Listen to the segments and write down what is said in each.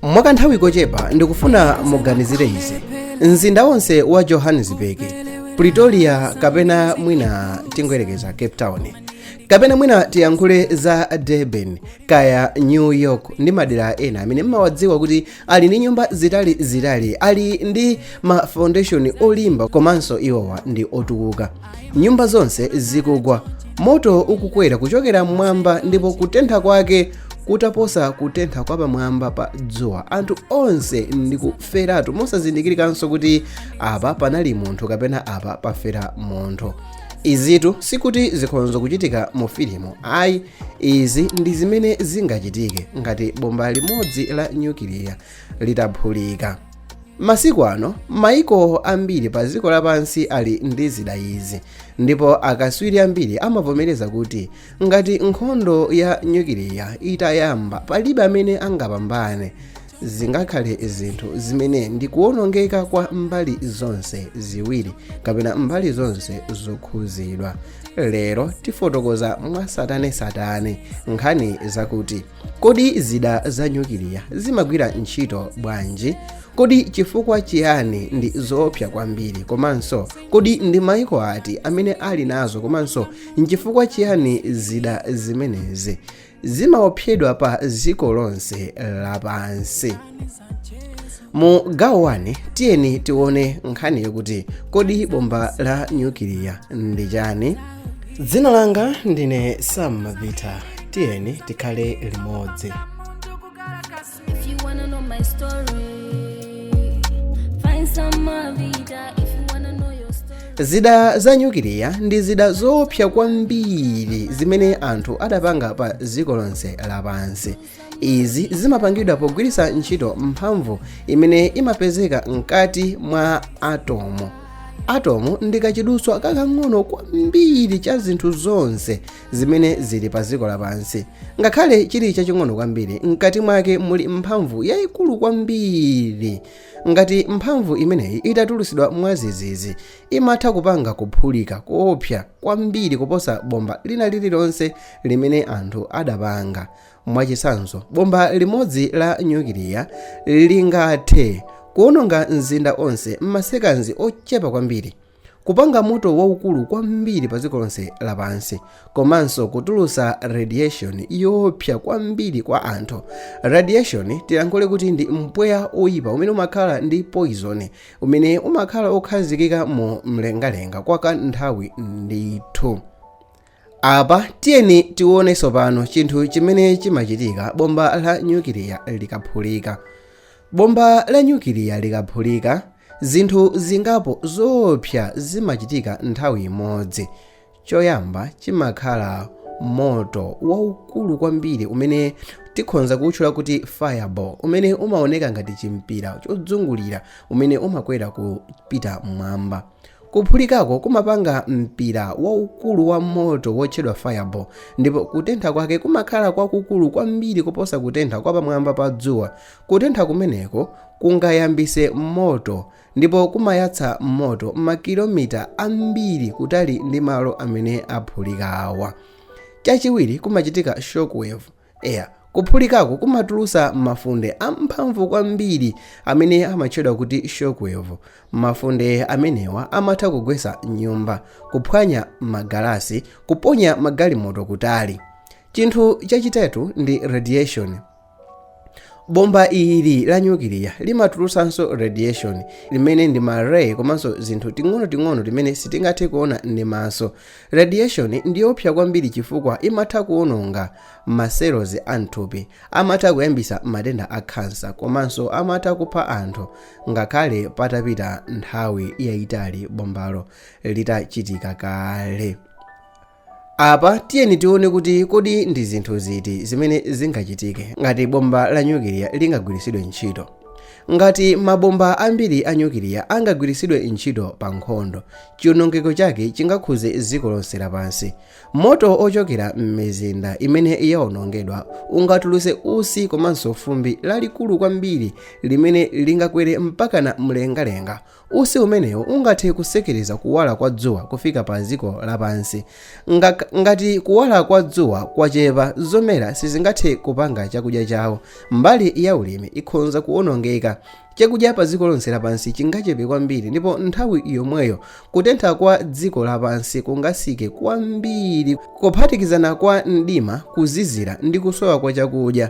mwakanthawi kochepa ndikufuna muganizire izi mzinda wonse wa johannesburg pretoria kapena mwina tingoyerekeza cape town kapena mwina tiyankhule za durban kaya new york ndi madera ena amene mmawadziwa kuti ali ndi nyumba zitali zitali ali ndi ma foundation olimba komanso iwowa ndi otukuka nyumba zonse zikugwa moto ukukwera kuchokera mmwamba ndipo kutentha kwake kutaposa kutentha kwa pamwamba pa dzuwa anthu onse ndikuferatu mosazindikirikanso kuti apa panali munthu kapena apa pafera munthu izitu sikuti zikhonza kuchitika mu filimu ayi izi ndi zimene zingachitike ngati bomba limodzi la nyukiliya litaphulika masiku ano maiko ambiri pa dziko lapansi ali ndi zida izi ndipo akatswiri ambiri amavomereza kuti ngati nkhondo ya nyukiliya itayamba palibe amene angapambane zingakhale zinthu zimene ndi kuwonongeka kwa mbali zonse ziwiri kapena mbali zonse zokhuzidwa lero tifotokoza mwasatanesatane nkhani zakuti Kodi zida za nyukiliya zimagwira ntchito bwanji? Kodi chifukwa chiyani ndi zoopsa kwambiri? Komanso kodi ndi maiko ati amene ali nazo komanso nchifukwa chiyani zida zimenezi zimaopsedwa pa dziko lonse lapansi? mu gawo 1 tiyeni tione nkhani yokuti kodi bomba la nyukiliya ndi chani dzina langa ndine sam mavita tiyeni tikhale limodzi zida za nyukiliya ndi zida zoopsa kwambiri zimene anthu adapanga pa dziko lonse lapansi izi zimapangidwa pogwiritsa ntchito mphamvu imene imapezeka mkati mwa atomu atomu ndi kachidutswa kakang'ono kwambiri cha zinthu zonse zimene zili pa dziko lapansi ngakhale chili chaching'ono kwambiri mkati mwake muli mphamvu yayikulu kwambiri ngati mphamvu imeneyi itatulutsidwa mwadzidzidzi imatha kupanga kuphulika koopsa kwambiri kuposa bomba lina lililonse limene anthu adapanga Mwachitsanzo, bomba limodzi la nyukiliya lingathe kuwononga mzinda onse m'masekanzi ochepa kwambiri, kupanga moto waukulu kwambiri padziko lonse lapansi, komanso kutulutsa radiation yoopsa kwambiri kwa anthu. Radiation tilankhule kuti ndi mpweya oipa umene umakhala ndi poison umene umakhala okhazikika mu mlengalenga kwa kanthawi ndithu. apa tiyeni tione tsopano chinthu chimene chimachitika bomba la nyukiliya likaphulika bomba la nyukiliya likaphulika zinthu zingapo zoopsa zimachitika nthawi imodzi choyamba chimakhala moto waukulu kwambiri umene tikhonza kuwutchula kuti fireball umene umaoneka ngati chimpira chodzungulira umene umakwera kupita mmwamba Kuphulikako kumapanga mpira waukulu wa moto wotchedwa fireball ndipo kutentha kwake kumakhala kwakukulu kwambiri kuposa kutentha kwa pamwamba pa dzuwa. Kutentha kumeneko kungayambitse moto ndipo kumayatsa moto makilomita ambiri kutali ndi malo amene aphulikawa. Chachiwiri, kumachitika shockwave. Eya, kuphulikako kumatulutsa mafunde amphamvu kwambiri amene amatchedwa kuti shockwave. Mafunde amenewa amatha kugwetsa nyumba, kuphwanya magalasi, kuponya magalimoto kutali. Chinthu chachitatu ndi radiation. Bomba ili la nyukiliya limatulutsanso radiation, limene ndi ma ray komanso tinthu ting'onoting'ono timene sitingathe kuona ndi maso, Radiation ndi yoopsa kwambiri chifukwa imatha kuwononga ma cells a m'thupi, amatha kuyambitsa matenda a khansa komanso amatha kupha anthu ngakhale patapita nthawi yaitali bombalo litachitika kale. Apa tiyeni tione kuti kodi ndi zinthu ziti zimene zingachitike ngati bomba la nyukiliya lingagwiritsidwe ntchito. Ngati mabomba ambiri a nyukiliya angagwiritsidwe ntchito pa nkhondo, chiwonongeko chake chingakhudze dziko lonse lapansi. Moto wochokera m'mizinda imene yawonongedwa ungatulutse utsi komanso fumbi lalikulu kwambiri limene lingakwere mpakana mlengalenga Utsi umenewu ungathe kutsekereza kuwala kwa dzuwa kufika pa dziko lapansi. Ngati kuwala kwa dzuwa kwachepa, zomera sizingathe kupanga chakudya chawo. Mbali ya ulimi ikhonza kuonongeka. Chakudya pa dziko lonse lapansi chingachepe kwambiri ndipo nthawi yomweyo kutentha kwa dziko lapansi kungatsike kwambiri. Kuphatikizana kwa mdima, kuzizira ndi kusowa kwa chakudya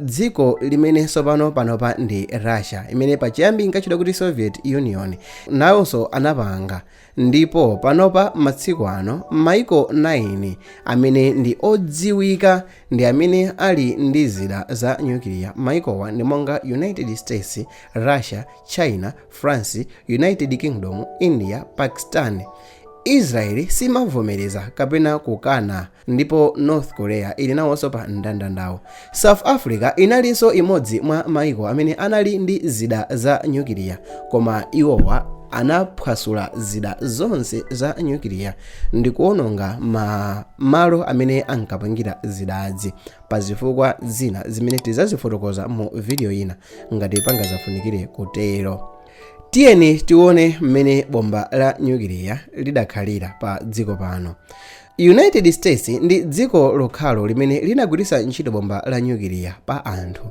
Dziko limene tsopano panopa ndi Russia, imene pachiyambi inkatchedwa kuti Soviet Union, nawonso anapanga ndipo panopa masiku ano mayiko 9 amene ndi odziwika ndi amene ali ndi zida za nyukiliya. Mayikowa ndi monga United States, Russia, China, France, United Kingdom, India, Pakistan. Israel simavomereza kapena kukana. ndipo north korea ili nawonso pa mndandandawu, south africa inalinso imodzi mwa maiko amene anali ndi zida za nyukiliya koma iwowa anaphwasula zida zonse za nyukiliya ndi kuononga ma malo amene ankapangira zidazi pa zifukwa zina zimene tizazifotokoza mu video ina ngati pangazafunikire kutero tiyeni tione mmene bomba la nyukiliya lidakhalira pa dziko pano United States ndi dziko lokhalo limene linagwiritsa ntchito bomba la nyukiliya pa anthu.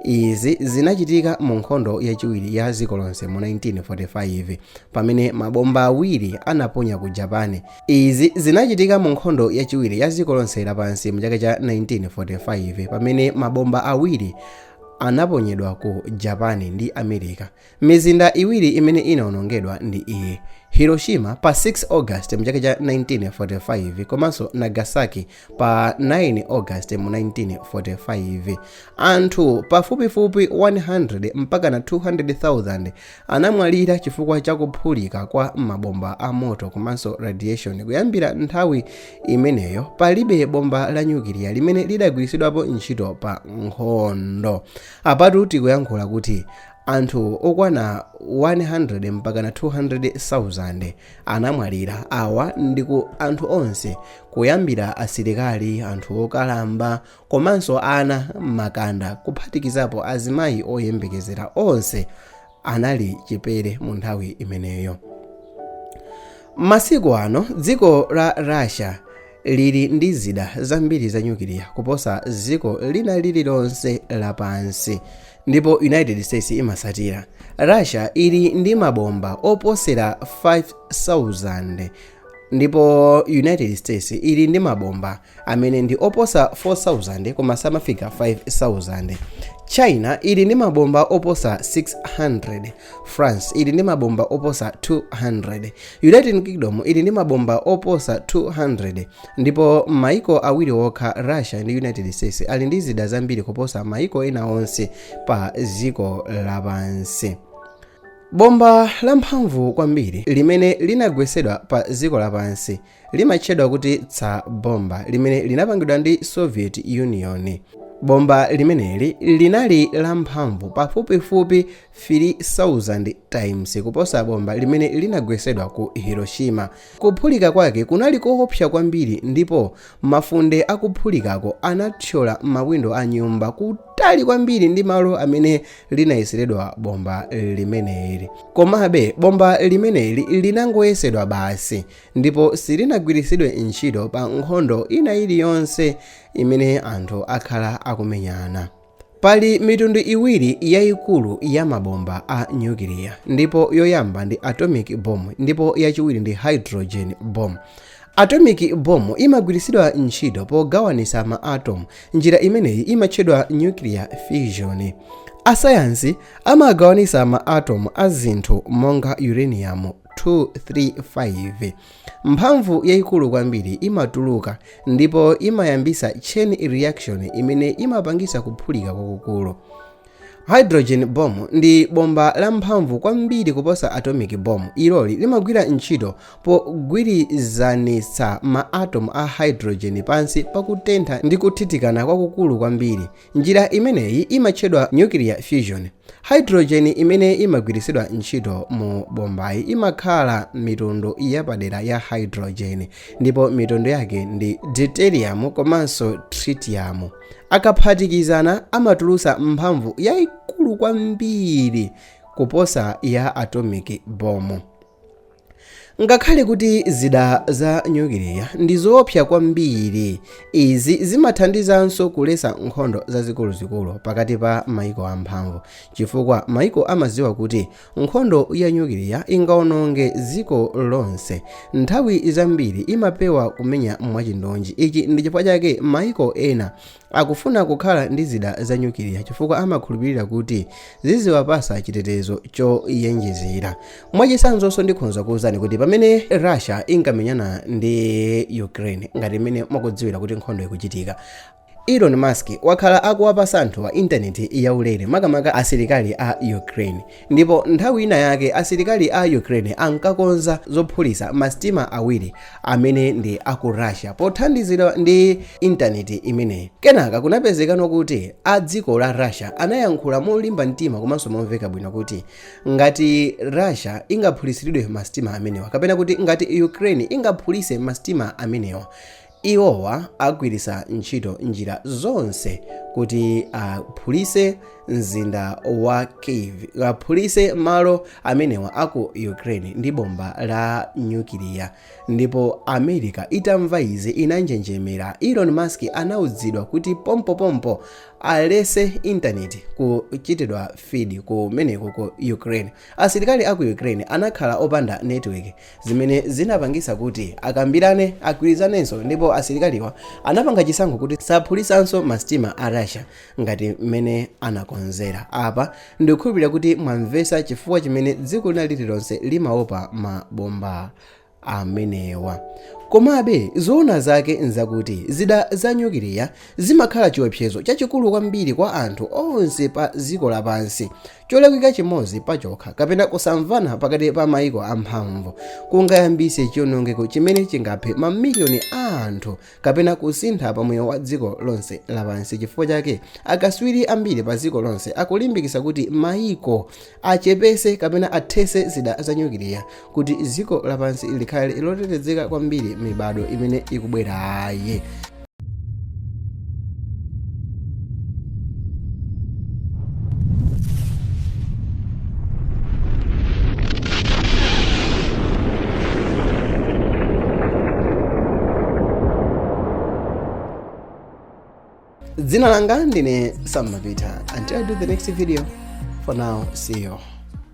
Izi zinachitika mu nkhondo yachiwiri ya dziko lonse mu 1945 pamene mabomba awiri anaponya ku Japan. Izi zinachitika mu nkhondo yachiwiri ya dziko lonse lapansi mu chaka cha 1945 pamene mabomba awiri anaponyedwa ku Japan ndi America. Mizinda iwiri imene inawonongedwa ndi iyi, Hiroshima pa 6 August mu chaka cha 1945 komanso Nagasaki pa 9 August mu 1945. Anthu pafupifupi 100 mpakana 200,000 anamwalira chifukwa cha kuphulika kwa mabomba a moto komanso radiation. Kuyambira nthawi imeneyo palibe bomba la nyukiliya limene lidagwiritsidwapo ntchito pa nkhondo. Apatu tikuyankhula kuti Anthu okwana 100 mpakana 200,000 anamwalira. Awa nditu anthu onse kuyambira asilikali, anthu okalamba komanso ana makanda kuphatikizapo azimayi oyembekezera onse anali chipere mu nthawi imeneyo. Masiku ano dziko la Russia lili ndi zida zambiri za nyukiliya kuposa dziko lina lililonse lapansi. Ndipo United States imatsatira. Russia ili ndi mabomba oposera 5,000 ndipo United States ili ndi mabomba amene ndi oposa 4,000 koma samafika 5,000. China ili ndi mabomba oposa 600 france ili ndi mabomba oposa 200 united kingdom ili ndi mabomba oposa 200 ndipo maiko awiri okha russia ndi united states ali ndi zida zambiri kuposa maiko ena onse pa dziko lapansi bomba lamphamvu kwambiri limene linagwesedwa pa dziko lapansi limatchedwa kuti tsar bomba limene linapangidwa ndi soviet union bomba limeneli linali lamphamvu pafupifupi 3000 times kuposa bomba limene linagwesedwa ku hiroshima kuphulika kwake kunali koopsa kwambiri ndipo mafunde akuphulikako anathyola mawindo a nyumba kutali kwambiri ndi malo amene linayeseredwa bomba limeneli komabe bomba limeneli linangoyesedwa basi ndipo silinagwiritsidwe ntchito pa nkhondo ina iliyonse imene anthu akhala akumenyana pali mitundu iwiri yayikulu ya mabomba a nyukiliya ndipo yoyamba ndi atomic bomb ndipo yachiwiri ndi hydrogen bomb atomic bomb imagwiritsidwa ntchito pogawanisa ma atom njira imeneyi imatchedwa nuclear fission asayansi amagawanisa ma atom a zinthu monga uranium 235 mphamvu yayikulu kwambiri imatuluka ndipo imayambisa chain reaction imene imapangisa kuphulika kwakukulu hydrogen bomb ndi bomba la mphamvu kwambiri kuposa atomic bomb iloli limagwira ntchito pogwirizanitsa ma atom a hydrogen pansi pakutentha ndi kuthithikana kwakukulu kwambiri njira imeneyi imatchedwa nuclear fusion hydrogen imene imagwiritsidwa ntchito mu bombayi imakhala mitundu yapadera ya hydrogen ndipo mitundu yake ndi deuterium komanso tritium akaphatikizana amatulusa mphamvu yaikulu kwambiri kuposa ya atomic bomb Ngakhale kuti zida za nyukiliya ndi zoopsa kwambiri, izi zimathandizanso kulesa nkhondo zazikuluzikulu pakati pa mayiko amphamvu, chifukwa mayiko amadziwa kuti nkhondo ya nyukiliya ingawononge dziko lonse, nthawi zambiri imapewa kumenya mwachindunji. Ichi ndi chifukwa chake mayiko ena Akufuna kukhala ndi zida za nyukiliya chifukwa amakhulupirira kuti ziziwapasa chitetezo choyenjezera. Mwachitsanzonso ndikhonza kuwuzani kuti pamene Russia inkamenyana ndi Ukraine ngati mmene mwakudziwira kuti nkhondo ikuchitika, Elon Musk wakhala akuwapasa anthuwa intaneti yaulere makamaka asilikali a Ukraine. Ndipo nthawi ina yake asilikali a Ukraine ankakonza zophulitsa masitima awiri amene ndi a ku Russia pothandizidwa ndi intaneti imeneyi. Kenaka kunapezekano kuti a dziko la Russia anayankhula molimba mtima komanso momveka bwino kuti ngati Russia ingaphulitsiridwe masitima amenewa kapena kuti ngati Ukraine ingaphulise masitima amenewa Iwowa agwiritsa ntchito njira zonse kuti aphulitse mzinda wa Kiev, aphulitse malo amenewa a ku Ukraine ndi bomba la nyukiliya. Ndipo America itamva izi inanjenjemera. Elon Musk anaudzidwa kuti pompopompo alese intaneti kuchitidwa feed kumeneko ku Ukraine. Asilikali a ku Ukraine anakhala opanda network zimene zinapangitsa kuti akambirane agwirizanenso ndipo asilikaliwa anapanga chisankho kuti saphulisanso masitima a Russia ngati mmene anakonzera. Apa ndikukhulupirira kuti mwamvetsa chifukwa chimene dziko lina lililonse limaopa mabombawa. amenewa. Komabe, zoona zake n'zakuti zida za nyukiliya zimakhala chiwopsezo chachikulu kwambiri kwa anthu onse pa dziko lapansi. Cholakwika chimodzi pachokha kapena kusamvana pakati pa mayiko amphamvu kungayambise chiwonongeko chimene chingaphe mamiliyoni a anthu kapena kusintha pa moyo wa dziko lonse lapansi chifukwa chake akatswiri ambiri pa dziko lonse akulimbikitsa kuti mayiko achepese kapena athese zida za nyukiliya kuti dziko lapansi likhale lotetezeka kwambiri mibado imene ikubwerayi dzina langa ndine sam mapita until i do the next video for now see you